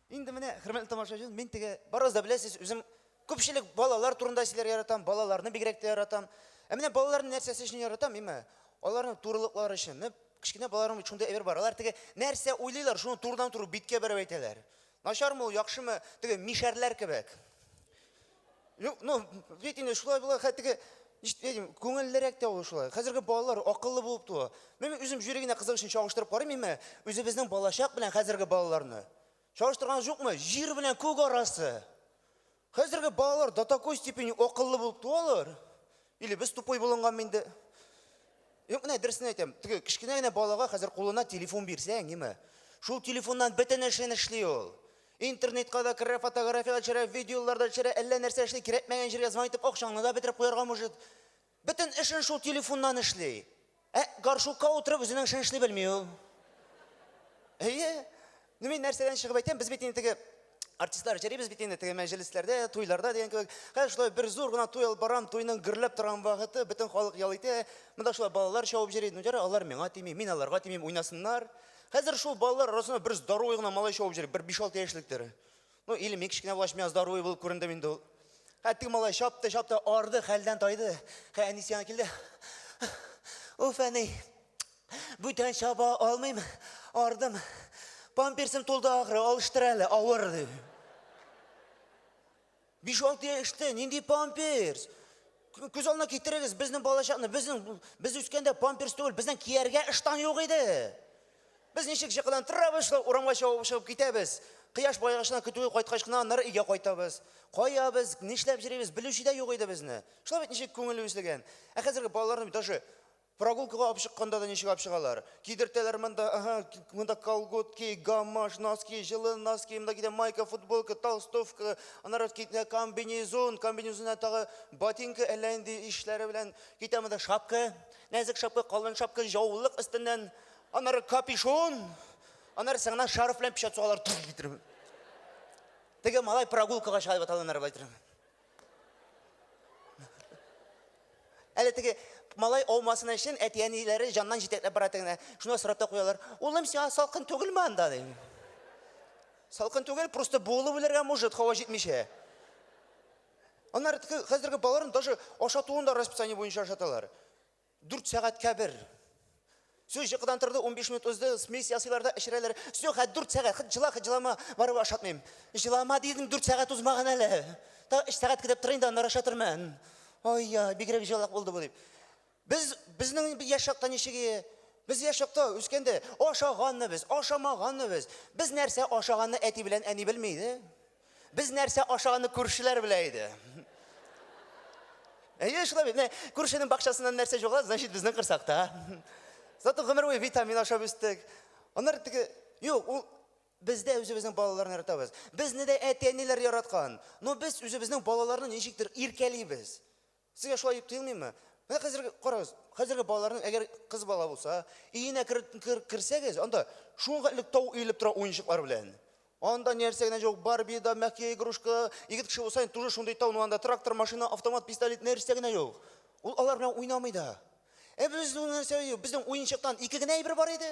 Инде менә, хөрмәтле тамашачы, мин теге барыгыз да беләсез, үзем күпчелек балалар турында сөйләр яратам, балаларны бигрәк тә яратам. Ә менә балаларны нәрсәсе өчен яратам, имә? Аларның турылыклары өчен. Менә кечкенә балаларның бит шундый әйбер бар. Алар теге нәрсә уйлыйлар, шуны турыдан-туры биткә бәреп әйтәләр. Начармы ул, яхшымы, теге мишәрләр кебек. Юк, ну, бит инде шулай була, хәтиге Ишетәм, күңеллерәк тә ул шулай. Хәзерге балалар акыллы булып туа. Мин үзем җире генә кызык өчен чагыштырып карыйм мин үзебезнең балачак белән хәзерге балаларны. Чагыштырган юкмы? Җир белән күк арасы. Хәзерге балалар до такой степени акыллы булып туалар. Или без тупой булынганмы инде? Юк, менә дөресен әйтәм. Теге кечкенә генә балага хәзер кулына телефон бирсәң, ниме? Шул телефоннан бөтен эшен эшли ул. Интернетка да керә, фотография да төшерә, видеолар да төшерә, әллә нәрсә эшли, кирәкмәгән җиргә звонок итеп, акчаңны да бетереп куярга может. Бөтен эшен шул телефоннан эшли. Ә горшукка утырып үзенең эшен эшли белми ул. Әйе. Ну мин нәрсәдән чыгып әйтәм, без бит инде теге артистлар җырыйбыз бит инде теге мәҗлесләрдә, туйларда дигән кебек. Хәзер шулай бер зур гына туй алып барам, туйның гөрләп торган вакыты, бөтен халык ял итә. Монда шулай балалар чабып йөри. Ну ярый, алар миңа тими, мин аларга тимим, уйнасыннар. Хәзер шул балалар арасында бер здоровый гына малай шауып йөри, бер 5-6 яшьлектер. Ну, или мин кечкенә булгач, миңа здоровый булып күрендем инде ул. Хә, теге малай чапты, чапты, арды, хәлдән тайды. Хә, әнисе янына килде. Уф, әни, бүтән чаба алмыйм, ардым. Памперсым тулды ахры, алыштыр әле, авыр, ди. Биш-алты яшьтә нинди памперс? Күз алдына китерегез безнең балачакны, безнең без үскәндә памперс түгел, безнең кияргә ыштан юк иде. Без ничек җыкылан тырабышлы урамга чабып чыгып китәбез. Кояш баегачларны көтүгә кайткач кына аннары өйгә кайтабыз. Кая без, нишләп йөрибез, белүче дә юк иде безне. Шулай бит ничек күңел үзлеген. Ә хәзерге балаларны даже Прогулкага алып чыкканда да ничек алып чыгалар? Кидертәләр монда, ага, монда колготки, гамаш, носки, җылы носки, монда кидә майка, футболка, толстовка, аннары китә комбинезон, комбинезоннан тагы ботинка әллә инде ишләре белән, китә монда шапка, нәзек шапка, калын шапка, җаулык өстеннән, аннары капюшон, аннары сыңна шарф белән печәт сугалар. Теге малай прогулкага чыга дип аталганнар, Әле теге малай алмасын өчен әти-әниләре җаннан җитәкләп бара тегенә. Шуна сорап та куялар. Улым, сиңа салкын түгелме анда? ди. Салкын түгел, просто буылып үләргә может, һава җитмичә. Аннары теге хәзерге балаларын даже ашатуын да расписание буенча ашаталар. Дүрт сәгатькә бер. Су җыкыдан торды, унбиш минут узды, смесь ясыйлар да эчерәләр. Су хәт дүрт сәгать, хәт җыла, хәт җылама, барыбер ашатмыйм. Җылама дидең, дүрт сәгать узмаган әле. Та өч сәгать көтеп торыйм да, аннары ашатырмын. Ой, я, бигрәк җылак булды бу дип. Без безнең яшь чакта ничек ие? Без яшь чакта үскәндә ашаганны без, ашамаганны без. Без нәрсә ашаганны әти белән әни белми иде. Без нәрсә ашаганны күршеләр белә иде. Әйе, шулай бит. Менә күршенең бакчасыннан нәрсә җугала, значит, безнең кырсакта. Зато гомер буе витамин ашап үстек. Аннары теге, юк, ул бездә үзебезнең балаларны яратабыз. Безне дә әти-әниләр яраткан. Но без үзебезнең балаларны ничектер иркәлибез. Сезгә шулай дип тоелмыймы? Менә хәзерге, карагыз, хәзерге балаларның, әгәр кыз бала булса, өенә керсәгез, анда шуңа элек тау өелеп тора уенчыклар белән. Анда нәрсә генә җок, Барби да, мягкие игрушка, егет кеше булса, тоже шундый тау, анда трактор, машина, автомат, пистолет, нәрсә генә җок. Ул алар белән уйнамый да. Ә без нәрсә, безнең уенчыктан ике генә әйбер бар иде.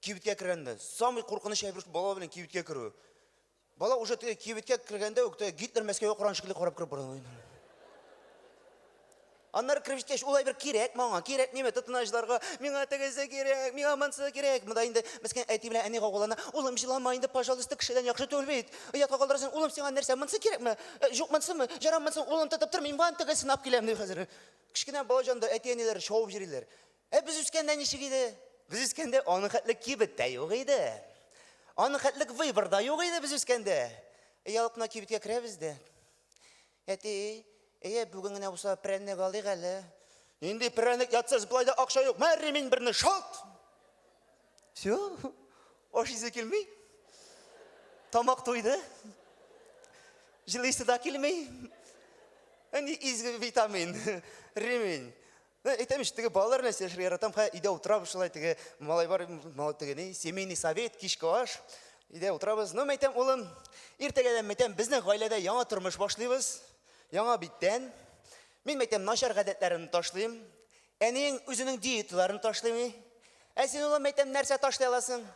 Кибеткә кергәндә, самый куркыныч әйбер бала белән кибеткә керү. Бала уже теге кибеткә кергәндә үк теге Гитлер Мәскәүгә караган шикелле карап кереп бара. Аннары кереп җиткәч, ул әйбер кирәк маңа, кирәк нимә тотыначларга, миңа тегесе кирәк, миңа монсы кирәк. Монда инде мескин әти белән әни гаугалана. Улым, җылама инде, пожалуйста, кешедән яхшы түгел бит. Оятка калдырасың, улым, сиңа нәрсә, монсы кирәкме? Э, Юк, монсымы? Җара монсын, улым, тотып тор, мин ван тегесен алып киләм, дип хәзер. Кечкенә балаҗанды әти-әниләре шавып йөриләр. Ә без үскәндә ничек иде? Без үскәндә аның хәтле кибет тә юк иде. Аның хәтле выбор да юк иде без үскәндә. Ялыкна кибеткә керәбез дә. Әти, әйе, бүген генә булса прәннек алыйк әле. Нинди прәннек ятсыз, болай да акча юк. Мә ремень берне шалт. Все. Аш исе килми. Тамак туйды. Җылысы да килми. Әни изге витамин. Ремень. Ну, әйтәм ич, теге балалар белән сөйләшергә яратам, хә, өйдә утырабыз шулай, теге малай бар, теге ни, семейный совет, кичке аш, өйдә утырабыз. Ну, мәйтәм, улым, иртәгәдән мәйтәм, безнең гаиләдә яңа тормыш башлыйбыз, яңа биттән. Мин мәйтәм, начар гадәтләрен ташлыйм. Әниең үзенең диеталарын ташлыймы? Ә син, улым, мәйтәм, нәрсә ташлый аласың?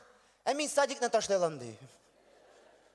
Ә мин садикны ташлый алам, ди.